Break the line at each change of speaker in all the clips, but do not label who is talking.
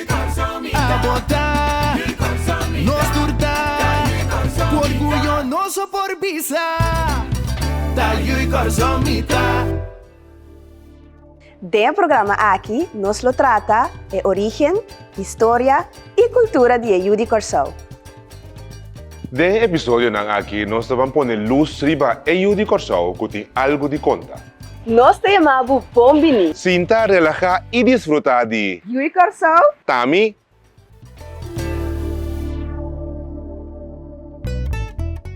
A bota, nos tur ta Ku orguyo nos a por bisa Ta yu i kòrson mi ta. Den e programa aki nos lo trata e origen, historia i kultura di e yu di Kòrsou. Den e episodionan aki nos ta ban pone lus riba e yu di Kòrsou ku tin algu di konta. Nos ta yama bo bon bini. Sinta, relahá i disfrutá di. Ui Kòrsou. Ta mi.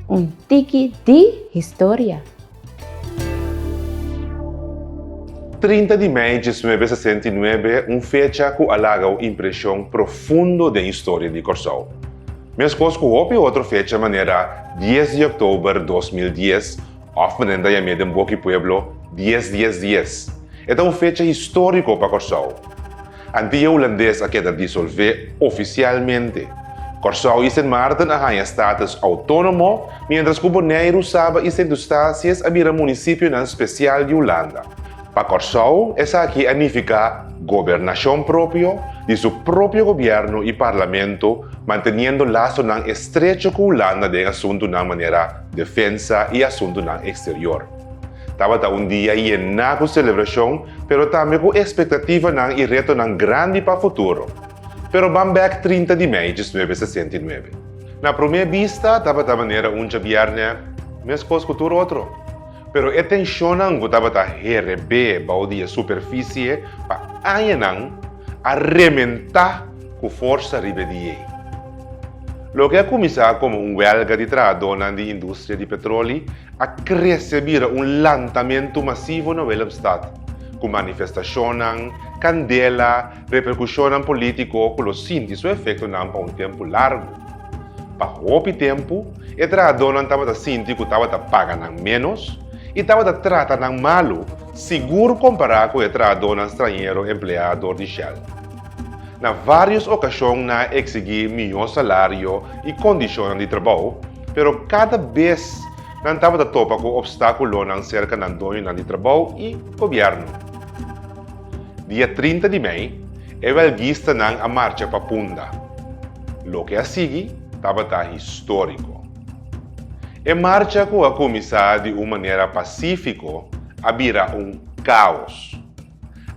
Un tiki di historia. Trinta di mei dies nuebe sesenta i nuebe, un fecha ku a laga un impreshon profundo den historia di Kòrsou. Meskos ku hopi otro fecha manera dies di oktober dos mil dies, Òf menen ta yam'é den boki pueblo Dies Dies Dies. E ta un fecha históriko pa Kòrsou. Antia Hulandes a keda disolvé ofisialmente. Kòrsou i Sint Maarten a haña status outónomo, miéntras ku Boneiru, Saba i Sint Eustatius a bira munisipionan spesial di Hulanda. Pa Kòrsou, esaki a nifiká gobernashon propio, di su propio gobièrnu i parlamento, manteniendo lasonan estrecho ku Hulanda den asuntunan manera, Defensa i Asuntunan Eksterior. Tabata un dia yená ku selebrashon, pero tambe ku ekspektativanan i retonan grandi pa futuro. Pero ban bèk trinta di mei diecinuebe sesenta i nuebe. Na promé bista tabata manera un djabièrnè, meskos ku tur otro. Pero e tenshonnan ku tabata herebé bou di e superfisie pa añanan, a rementá. ku forsa riba e diei. Loke a kuminsá komo un wèlga di trahadónan di industria di petroli a krese bira un lantamentu masivo na Willemstad, ku manifestashonnan, kandela, reperkushonnan polítiko ku lo sinti su efektonan pa un tempu largu. Pa hopi tempu, e trahadónan tabata sinti ku tabata paga nan ménos i tabata trata nan malu, sigur kompará ku e trahadónan strañero empleá dor di Shell. Na vários okashon nan a eksigí mihó salario i kondishonnan di trabou, pero kada bes nan tabata topa ku opstákulonan serka nan doñonan di trabou i gobièrnu. Dia trinta di mei, e wèlgistanan a marcha pa Punda. Loke a sigui tabata históriko. E marcha ku a kuminsá di un manera pasífiko a bira un káos.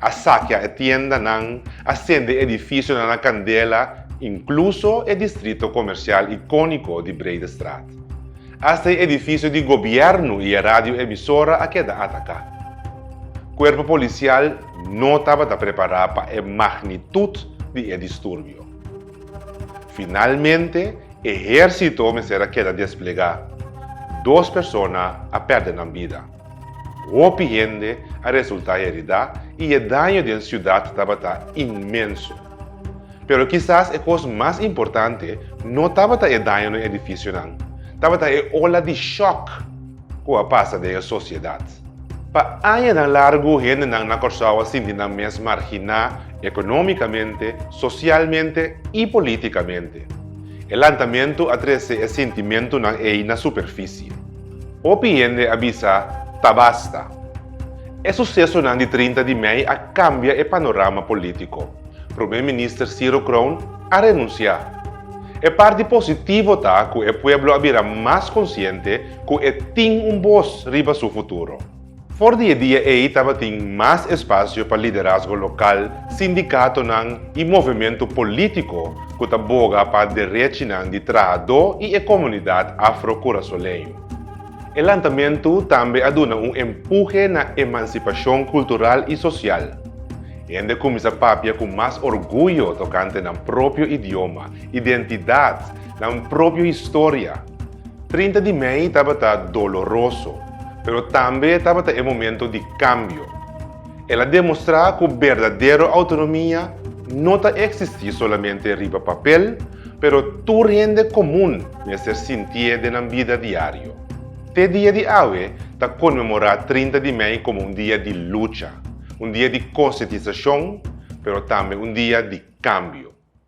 A sakia e tiendanan, a sende e edifisionan na kandela, inkluso e distrito komersial ikóniko di Bredestraat. Asta e edifisio di gobièrnu i e radioemisora a keda ataká. Kuerpo polisial no tabata prepará pa e magnitut di e disturbio. Finalmente, ehérsito mester a keda desplegá. Dos persona a pèrdè nan bida. Hopi hende a resultá heridá i e daño den siudat tabata inmenso. Pero kisas e kos mas importante no tabata e daño na edifisionan, tabata e ola di shòk ku a pasa den e sosiedat. Pa añanan largu hendenan na Kòrsou a sinti nan mes marginá ekonómikamente, sosialmente i polítikamente. E lantamentu a trese e sintimentunan ei na superfisie. Hopi hende a bisa, Tabasta! E susesonan di trinta di mei a kambia e panorama polítiko. Promé minister Ciro Kroon a renunsiá. E parti positivo ta ku e pueblo a bira mas konsiente ku e tin un bos riba su futuro. For di e dia ei tabatin mas espasio pa liderazgo lokal, sindikatonan i movementu polítiko ku ta boga pa derechinan di trahadó i e komunidat afro-kurasoleño. E lantamentu tambe a duna un empuje na emansipashon kultural i sosial. Hende kuminsá papia ku mas orguyo tokante nan propio idioma, identidat, Nan propio historia. Trinta di mei tabata doloroso, pero tambe tabata e momento di kambio. El a demostrá ku berdadero outonomia no ta eksistí solamente riba papel, pero tur hende komun mester sintié den nan bida diario. Te dia di awe ta konmemorá trinta di mei komo un dia di lucha, un dia di konsientisashon, pero tambe un dia di kambio.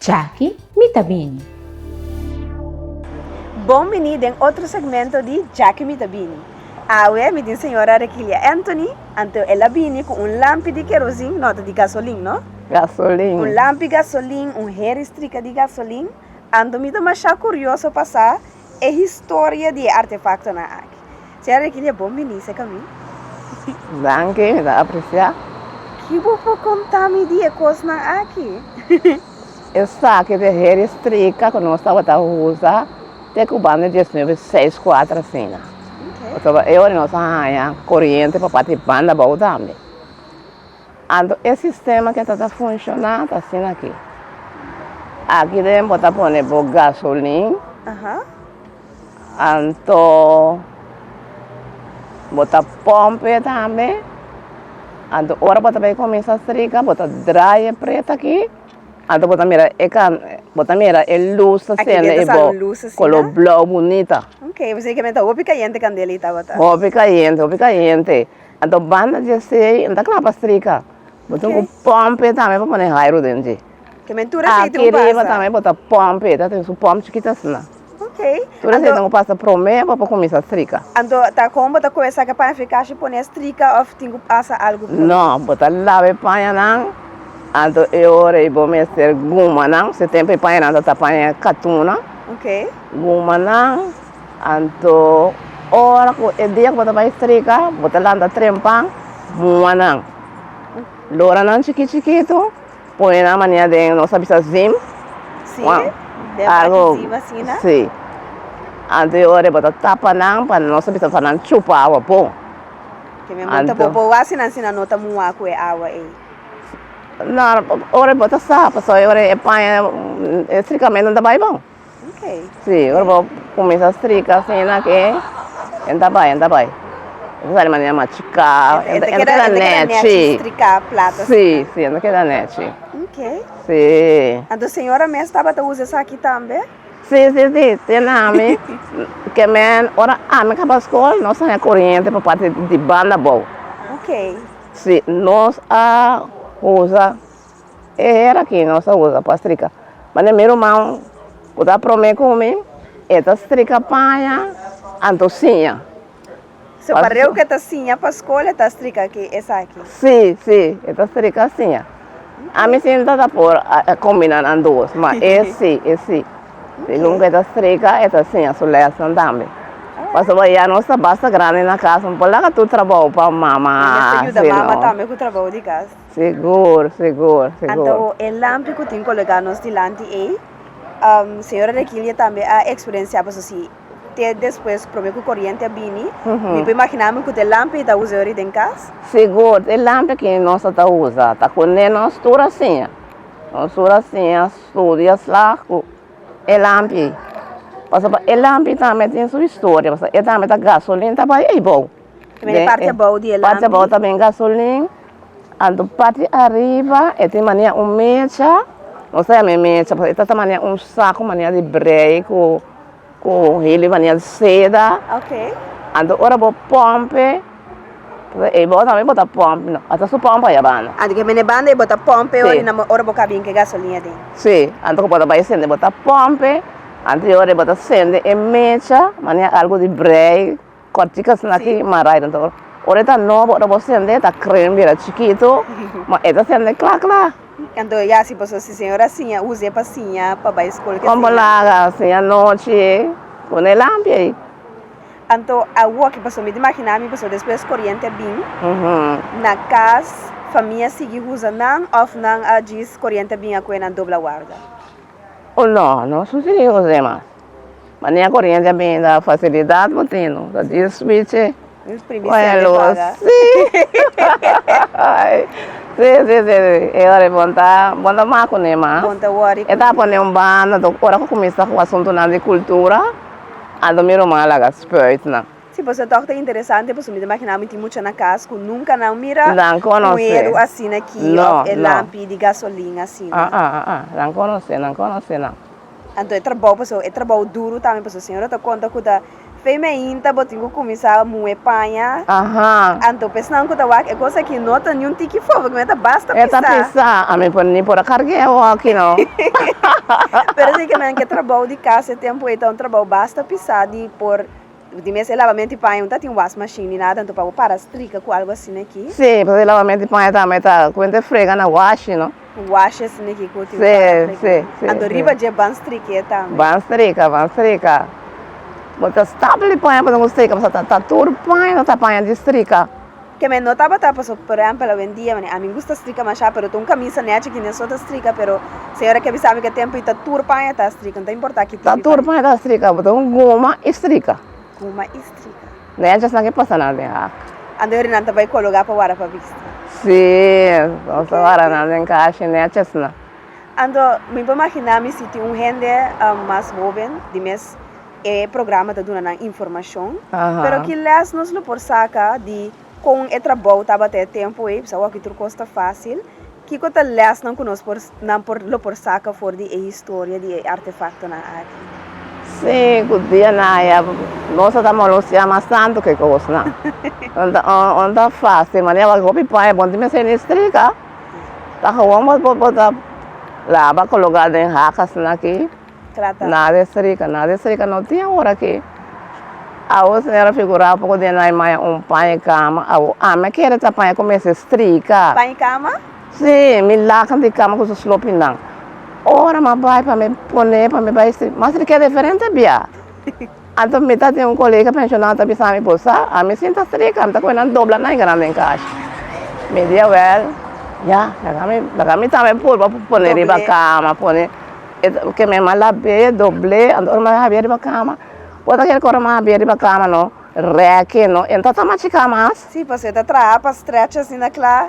Djaki mi ta bini. Bon bini den otro segmento di Djaki mi ta bini. Awe mi tin señora Rekilia Anthony, anto el a bini ku un lampi di kerosin, no ta di gasolin no, un lampi gasolin, un heri strika di gasolin, anto mi ta masha kurioso pa sa E historia di e artefaktonan aki. Sra. Rekilia, bon bini sa ka mi. Danki, mi ta apresiá. Ki bo por kontá mi di e kosnan aki? Esaki ta e heri strika ku nos tabata usa te ku banda dies nuebe i seis kuater asina. Pasobra e ora nos a haña koriente pa parti banda abou tambe. Anto e sistema ke ta ta funshoná ta asina akí, aki den bo ta pone bo gasolin, anto bo ta pòmpe tambe, anto ora bo ta bai kuminsá strika bo ta drai e pret akí, anto bo ta mira e kan bo ta mira e lus ta sende i bo kolor blou bunita, hopi kayente hopi kayente Anto banda di esei no ta cla pa strika, bo tin cu pompe tambe pa pone hairu den dje. Aki riba tambe bo ta pompe, ta tin su pomp chikit asina. Tur esei tin cu pasa prome bo pa cuminsa strika. Anto ta con bo ta coge esaki paña fi cashi pone strika of tin cu pasa algu prome? No, bo ta laba e pañanan, anto e ora ei bo mester gumanan, se tempo e pañanan ta ta paña katuna, gumanan. Anto, ora cu e dia cu bo ta bay strika, bo ta lanta trempa mua nan, lora nan chiki chikitu, pone nan mania den, nos a bisa zim, Sí, wan, den a argo, taki zim asina. sí, anto e ora bo ta tapa nan pa nos a bisa sa nan chupa awa bo, Ke men bo ta Anto. bobo wasi nan si nan no ta mua cu e awa ey. Nor, ora bo ta sa, pasobra e paña, e strikamentu no ta bay bon. Si, ora bo cuminsa strica asina aki, enta a bai, enta a bai. Enta sali manera machuca, enta keda nechi. Si, si, enta keda nechi. Si. Anto señora mes tabata usa esaki tambe? Si, si, si, tin nami, ke men, ora ami caba scol, nos a haya coriente pa parti di banda bou. Si, nos a usa. E hera ki nos a usa pa strika, ma den mi ruman ku ta prome ku mi, e ta strika paña anto siña. So pa reu ku e ta siña pa skol e ta strika ki esaki? Si, si, e ta strika siña. Ami si no ta ta por a kombina nan dos, ma e si, e si. Segun ku e ta strika, e ta siña su lèson tambe. Pasobra ya nos ta basta grandi na kas, no por laga tur trabou pa mama hasi no. Mester yuda mama tambe ku trabou di kas. Segur, segur, segur. Anto e lampi ku tin kolegá nos dilanti ei, señora Rekilie tambe a eksperensiá paso si te despues promé ku koriente a bini, mi por imaginami ku te lampi ei ta usa yori den kas? Segur, te lampi aki nos a ta usa, ta kuné nos tur a siña, nos tur a siña studio slag ku e lampi ei. Pasobra e lampi tambe tin su historia, pasobra e tambe ta gasolina ta bai ei bou. Parti abao di e lampi. Parti abao ta den gasolin. Anto parti ariba e tin mania un mecha. No sa yama e mecha pero e ta ta mania un saku mania di brei ku ku hili mania di seda. Okay. Anto ora bo pompe, e bo tambe bo ta pompe no. A ta su pompe ya banda. Ah, di ke mene banda e bo ta pompe ora di nan ora bo ka bin ke gasolin aden. Si. Anto ku bo ta bai sende bo ta pompe. Anterior e bo ta sende e mecha mania algu di brei. Kòrtika snaki marai den tokor. Ora e ta nobo, ora bo sende e ta kren bira chikitu, ma e ta sende kla kla. Kantu e hasi paso si señor a siña, usa e pa siña pa bai skol ke siña. Kon bo laga siña nochi ku ne lampi ei? Anto awor ki paso mi ta imaginá mi paso despues koriente a bin na kas famia a sigui usa nan òf nan a djis koriente a bin a kuenan dobla warda? Oh no, no susidí kos ei mas. Mania corriente a bini da facilidad bo tino ta dies spichi con e luz si si si si e ora bon ta bon ta macu ne mas bon ta worry e ta pone un banda tok ora cu cuminsa cu asuntonan di cultura a do miro mas a laga spuit nan. Si pasobra tok ta interesante pasobra mi ta imagina mi tin mucha na cas cu nunca nan mira nan conoce un edu asina aki no no of e lampi di gasolin asina aa aa nan conoce nan conoce nan. Anto e trabou paso e trabou duru tambe paso señora ta konta ku ta fei mainta bo tin ku kuminsá muhé paña anto pa esnan ku ta wak e kos aki no ta niun tiki fobe kume ta basta pisá. E ta pisá ami por ni por a karg'é e wòki no. Pero si ke men ke trabou di kas e tempu ei ta un trabou basta pisá di por. Di mes e lavamento di paña no ta tin wash machine ni nada anto pa bo para strika cu algo asina aki. Sí, pasobra e lavamento di paña tambe ta cuenta e frega na washi, no? Washi asina aki cu tin para strika. Sí, sí, sí. Anto riba dje ban strika e tambe. Ban strika, ban strika. Bo ta stapel di paña pa duna cu strika pasobra ta tur paña no ta paña di strika. Ke me no tabata paso por ehempel awendia manera ami gusta strika masha pero ta un kamisa nechi ki neso ta strika pero señora ke bisa mi ke tempo i ta tur paña ta strika no ta importa ki tempo i tur paña ta strika bo ta un guma i strika guma i strika nechi asina ke pasa nan den hak ando eri nan ta bai kologa pa wara pa bista si nos ta wara nan den kashi nechi asina. Ando mi por imagina mi si tin un hende mas hoben di mes E programa ta duna nan informashon, pero ki lès nos lo por saka di kon e trabou tabata e tempu ei? Pasobra awor ki tur kos ta fásil. Kiko ta lèsnan ku nos por nan por lo por saka for di e historia di e artefaktonan aki? Sí, ku dia na aya nos a ta molosia mas tantu ku e kosnan. No ta no ta fásil mane awor hopi pan e bon tin mester ini strika. Ta gewoon bo bo ta laba, koloká den hakasnan akí. trata. Nada es rica, nada es rica no tin awor aki, awor señora figura poco di anai maya un paña cama, awor ami a kere ta paña comienza estrica. Paña cama? Si, mi lacan di cama cu su slopinan, ora mi a bay pa mi pone, pa mi bay esti, mas mi keda diferente bia. Anto mi ta tin un kolega penshonal ta bisa mi por sa, a mi sinta strika, mi ta kohe nan dobla nan y keda nan den kashi. Mi dia wèl, ya, laga mi tambe pul pa pone riba kama, pone e ke mi a lab'é, dobl'é, anto ora mi a habi'é riba kama, wòrdu ki a keda ku ora mi a habi'é riba kama no, rèk'é no, e no ta tama chika mas. Sí, pasobra e ta traha pa stretch asina kla.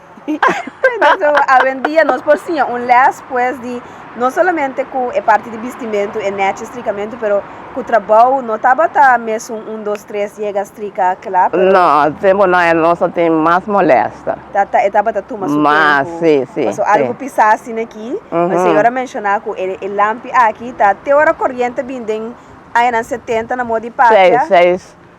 So awendia nos por siña un lès pues di no solamente ku e parti di bistimentu e nèchi strikamentu pero ku trabou no tabata mesun un dos tres yega strika kla pero. No, se bo no el nos a tin mas molèsta. Ta ta e tabata tuma su tempu. Mas si si. Paso algu pisá asin aki, e señor a menshoná ku e lampi aki ta te ora koriente bin den añanan setenta na modi papia. Seis seis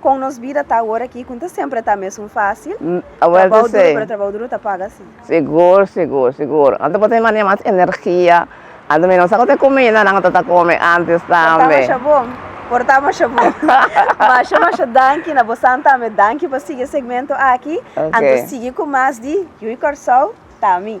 Kon nos bida ta awor aki ku ta semper ta mesun fasil? Trabou duru pero trabou duru ta paga si. Sigur sigur sigur anto por tene mania mas energia anto mira masa ku ta e kumida nan ta ta kome antes tambe. Por ta masha bon por ta masha bon masha masha danki na bosan tambe danki pa sigi e segmento aki anto sigi ku mas di Hui Kòrsou ta mi.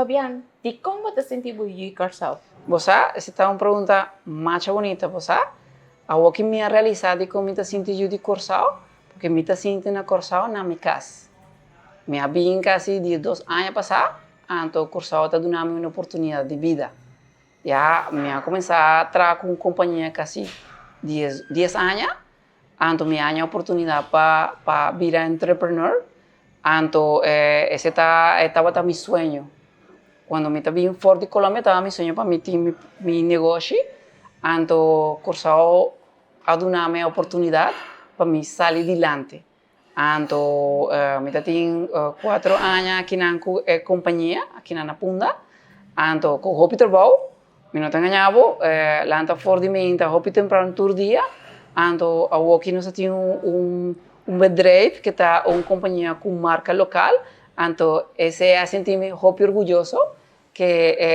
Fabian, dikon bo ta sinti bo yu i Kòrsou? Bo sa, esta ta un pregunta masha bunita. Bo sa, awor ki mi a realisá dikon mi ta sinti yu di Kòrsou, porque mi ta sinti na Kòrsou na mi kas. Mi a bini kasi diesdos aña pasá, anto Kòrsou a ta duna mi un oportunidat di bida. Ya mi a kumensá traha ku un kompañia kasi dies aña. Anto mi haña oportunidad pa pa bira entrepreneur, anto ese ta e tabata mi sueño, cuando mi ta bin for di Colombia tabata mi sueño pa mi tin mi negoshi, anto Cursao a dunami e oportunidad pa mi sali dilanti. Anto mi ta tin kuater aña akinan ku e kompania akinan na Punda. Anto ku hopi trabou, mi no ta ngañá bo, lanta for di meinta hopi tempran tur dia. Anto awoki nos a tin un bedrijf ku ta un kompania ku marka lokal, anto esei a sinti mi hopi orguyoso. Ke e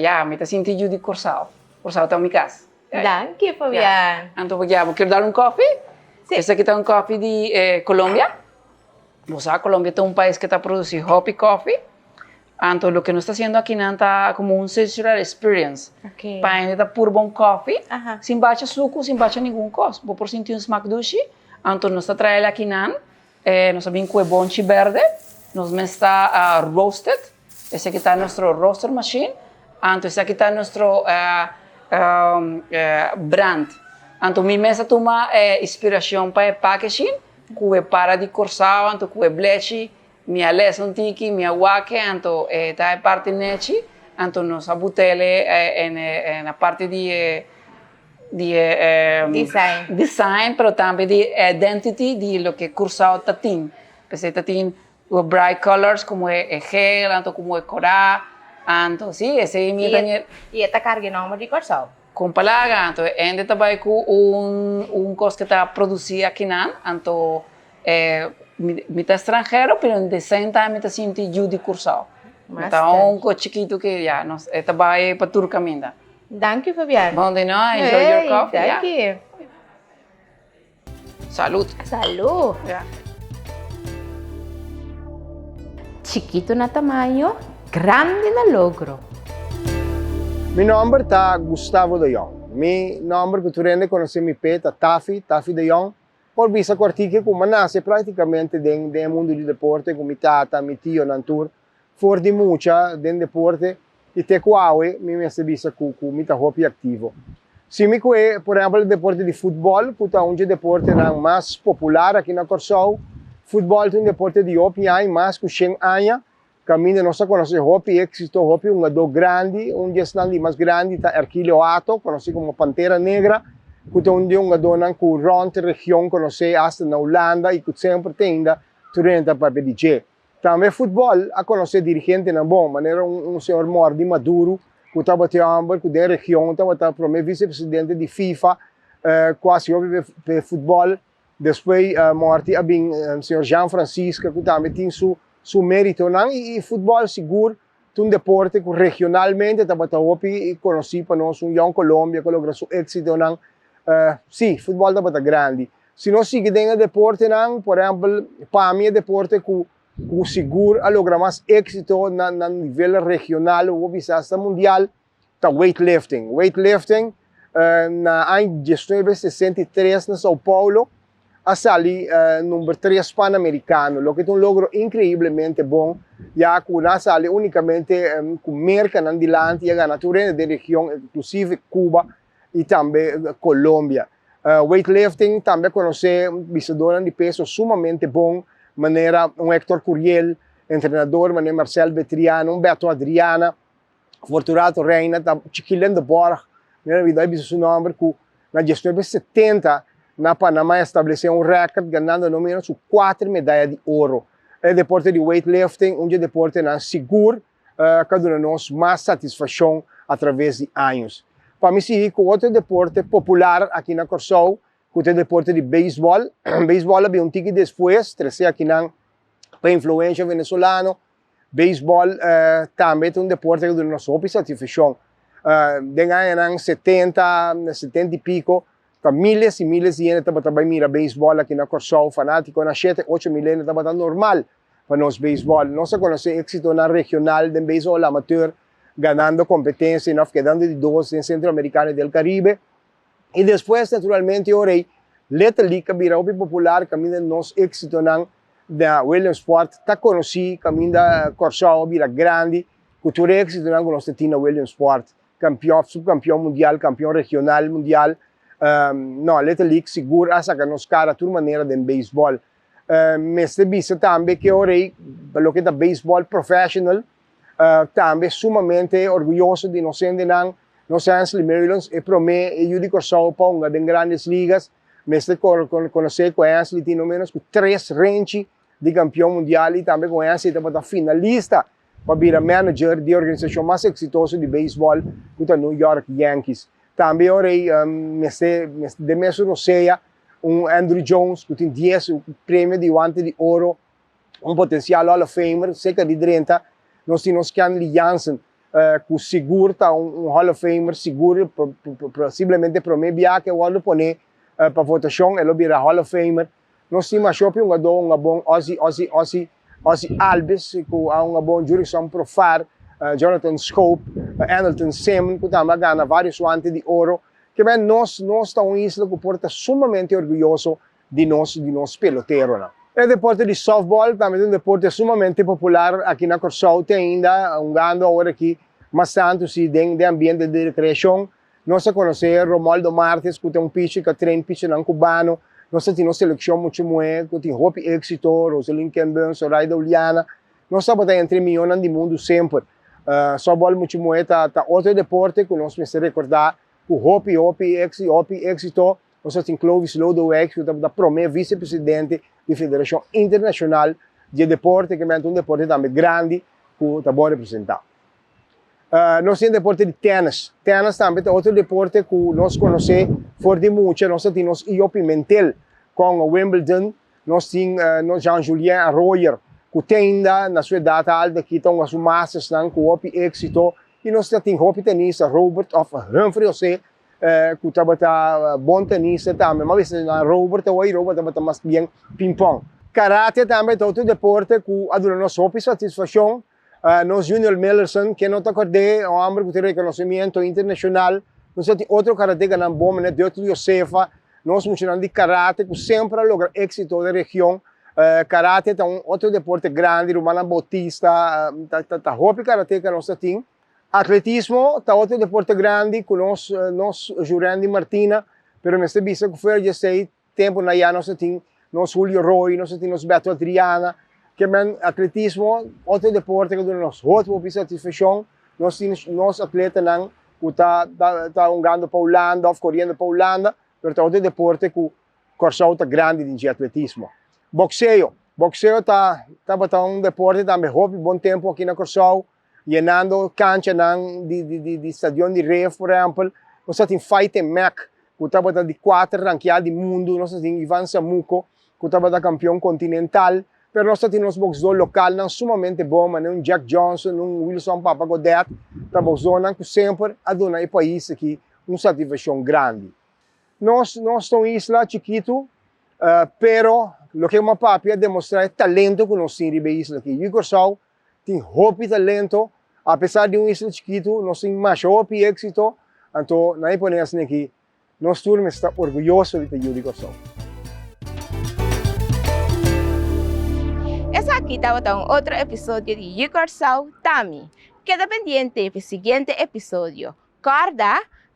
ya mi ta sinti yu di Kòrsou. Kòrsou ta mi kas. Danki Fabian. Anto bo guia bo kier dal un kòfi? Si. Esaki ta un kòfi di e Kolombia. Bo sa Kolombia ta un pais ke ta produsi hòpi kòfi. Anto loke nos ta hasiendo akinan ta komo un sensorial experience. Oke. Pa hende ta purba un kòfi. Aha. Sin bacha suku, sin bacha ningun kos. Bo por sinti un smak dushi. Anto nos ta trae el akinan E nos a bin cu e bonchi berde, nos mes ta a roast it, esaki ta nuestro roaster machine, anto esaki ta nuestro brand. Anto mi mes a tuma e inspiracion pa e packaging cu e para di Corsao anto cu e blechi, mi a lesa un tiki, mi a wake anto e ta e parti nechi, anto nos a butele e na parti di e di e design pero tambe di e identity di loke Curaçao ta tin, p'esei ta tin e bright colors como e geel anto como e cora anto si esei mi ta. Y e ta carga e nomber di Curaçao. Con pa laga anto e hende ta bay cu un cos que ta produci akinan anto mi ta extranhero pero in the same time mi ta sinti yu di Curaçao, mi ta hongo chikito que ya nos e ta bay pa tur caminda. Danki Fabian. Bon di no, I enjoyed your coffee. Ey, danki. Salud. Salud. Chikito na tamaño, grandi na logro. Mi nomber ta Gustavo de Jong. Mi nomber ku tur hende konosé mi p'e ta Tafi, Tafi de Jong. Por bisa kuartiku ku mi a nase praktikamente den den e mundu di deporte ku mi tata, mi tionan tur. for di mucha den deporte i te ku awe mi mester bisa ku ku mi ta hopi aktivo. Si mi kue, por ehèmpel, e deporte di futbòl ku ta un dje deportenan mas popular aki na Kòrsou. Futbòl ta un deporte di hopi aña, mas ku shen aña. Kaminda nos a konosé hopi éksito, hopi hungadó grandi, un di esnan di mas grandi ta Erkilio Hato, konosí komo Pantera Negra, ku ta un di hungadónan ku rònt region konosé asta na Hulanda i ku semper ta ainda trenta papia di dje. Tambe futbòl a konosé dirigentenan bon, manera un señor Mordi Maduru ku tabata e hòmber ku den region tabata promé visepresidente di fifa ku hasi hopi p'e futbòl. Despues Mordi a bin señor Jean Francisca ku tambe tin su méritonan i futbòl sigur T'un deporte cu regionalmente tabata hopi conoci pa nos, un Young Colombia cu logra su exitonan. Si, futbol tabata grandi. Si nos sigui den e deportenan, por ehempel, pa mi e deporte cu sigur a logra mas exito na nivel regional, hopi bisa asta mundial, ta weightlifting. Weightlifting na aña diesnuebe sesenta i tres na Sao Paulo a sali number tres Panamericano, loke ta un logro increiblemente bon, ya cu nan a sali unicamente cu mercanan dilanti y a gana tur hende den region, inclusive Cuba y tambe Colombia. Weightlifting tambe a conoce bisadonan di peso sumamente bon, manera un Hector Curiel, entrenador mane Marcel Betriana, un Beto Adriana, Fortunato Reina ta Chiqui Lindeborg, mi no a olbida e bisa su nomber, cu na diesnuebe setenta na Panama e establece un record ganando no menos cu cuater medaya di oro. E deporte di weightlifting un dje deportenan sigur ca duna nos mas satisfaccion atraves di años. Pa mi sigui cu otro deporte popular aki na Corsou cu ta e deporte di baseball. Baseball a bin un tiki despues trece aki nan pa influencia Venezolano. Beisbòl tambe ta un deporte ku duna nos hopi satisfashon. Den añanan setenta, setenta i piko, ta míles i míles di hende tabata bai mira beisbòl aki na Kòrsou, fanátikonan, shete, ocho mil hende tabata normal pa nos beisbòl. Nos a konosé éksitonan regional den beisbòl amatër, ganando kompetensianan òf kedando di dos den Sentroamerikano i di El Karibe. I despues, naturalmente, ora ei Little League ta bira hopi popular kaminda nos éksitonan na Williamsport ta konosí, kaminda Kòrsou a bira grandi ku tur e éksitonan ku nos ta tin na Williamsport, kampion, subkampion mundial, kampion regional, mundial, nò, Little League sigur a saka nos kara tur manera den beisbòl. Mester bisa tambe ke ora ei pa loke ta beisbòl professional, tambe sumamente orguyoso di nos hendenan, nos Ansley Merrilonds, e promé e yu di Kòrsou pa hunga den Grandes Ligas. Mester konosé ku Ansley tin no ménos ku tres renchi di kampion mundial i tambe ku Ansley tabata finalista pa bira manager di organisashon mas eksitoso di beisbòl ku ta New York Yankees. Tambe ora ei mester den mes Rosea un Andruw Jones ku tin dies premio di Guante di Oro. un potensial Hall of Famer, seka di drenta, nos tin nos Kenley Jansen, ku sigur ta un Hall of Famer, sigur posiblemente promé biaha ku e wòrdu poné pa votashon e lo bira Hall of Famer. Nos tin mashó piungadó un abon Ozzie Ozzie Ozzie Ozzie Albies, ku a un abon Jurrison Profar, Jonathan Schoop, Anelton Semen, ku tambe a gana vários Wante di Oro. Kibè nos nos ta un isla ku por ta sumamente orguyoso di nos di nos peloteronan. E deporte di softball tambe ta un deporte sumamente popular aki na Kòrsou te ainda hungando awor aki mas tantu si den den ambiente di rekreashon nos a konosé Romualdo Martes ku ta un pichi ku a train pichinan kubano nos a tin nos selekshon muchu muhé ku tin hopi éksito Rosalyn Kemben Zoraida Uliana nos tabata entre mihónan di mundu semper softball muchu muhé ta ta otro deporte ku nos mester rekordá ku hopi hopi éksito. Nos a tin Clovis Lodewijks cu ta por ta prome vicepresidente di Federacion Internacional dje Deporte, ke menta un deporte tambe grandi cu ta bon representa. Nos tin e deporte di tennis. Tennis tambe ta otro deporte cu nos conoce for di mucha. Nos a tin nos Io Pimentel, Congo Wimbledon, nos tin nos Jean Julien Arroyer cu teinda na su edad alto aki ta hunga su mastersnan cu hopi exito y nos ta tin hopi tenista Robert of Humphrey Jose eh, ku tabata bon ta nisa tambe, mas bes nan rober ta wai rober, tabata mas bien pingpong. Karate tambe ta otro deporte ku a duna nos hopi satisfakshon, eh, nos Junior Millerson, ken no ta akord'é, e hòmber ku tin rekonosimiento internashonal, nos a tin otro karatekanan bon manera Deutel Josefa, nos muchanan di karate ku semper a logra éksito den region, eh, karate ta un otro deporte grandi, rumannan Bautista, ta, ta, ta hopi karateka nos ta tin, Atletismo ta otro deporte grandi cu nos nos Jurandy Martina pero mester bisa cu fuera di esey tempo na ya nos a tin nos Julio Roy nos a tin nos Beto Adriana que men atletismo otro deporte cu duna nos hopi hopi satisfaccion nos tin nos atletanan cu ta ta ta hungando pa Hulanda of coriendo pa Hulanda pero ta otro deporte cu Corsou ta grandi den dje atletismo. Boxeo, boxeo ta tabata un deporte tambe hopi bon tempo aki na Corsou Yenando kanchanan di stadion di Reef por ehempel. Nos ta tin fight den mec cu tabata di cuater rankeá di mundo. Nos ta tin Ivan Samuco cu tabata campeon continental. Pero nos ta tin nos boxdor localnan sumamente bon manera un Jack Johnson, un Wilson Papa Godet. Ta boxdornan cu semper a duna e pais aki un satisfaccion grandi. Nos nos ta un isla chikitu pero loke Mapapia a demostrá e talento cu nos tin riba e isla aki. Ui Curaçao tin hopi talento, a pesar di un isla chikitu nos tin masha hopi éksito, anto nan e pone asina aki, nos tur mester ta orguyoso di ta yu di Kòrsou. Esaki tabata un otro episodio di Yu Kòrsou Ta Mi. Keda pendiente pi siguiente episodio. Kòrda,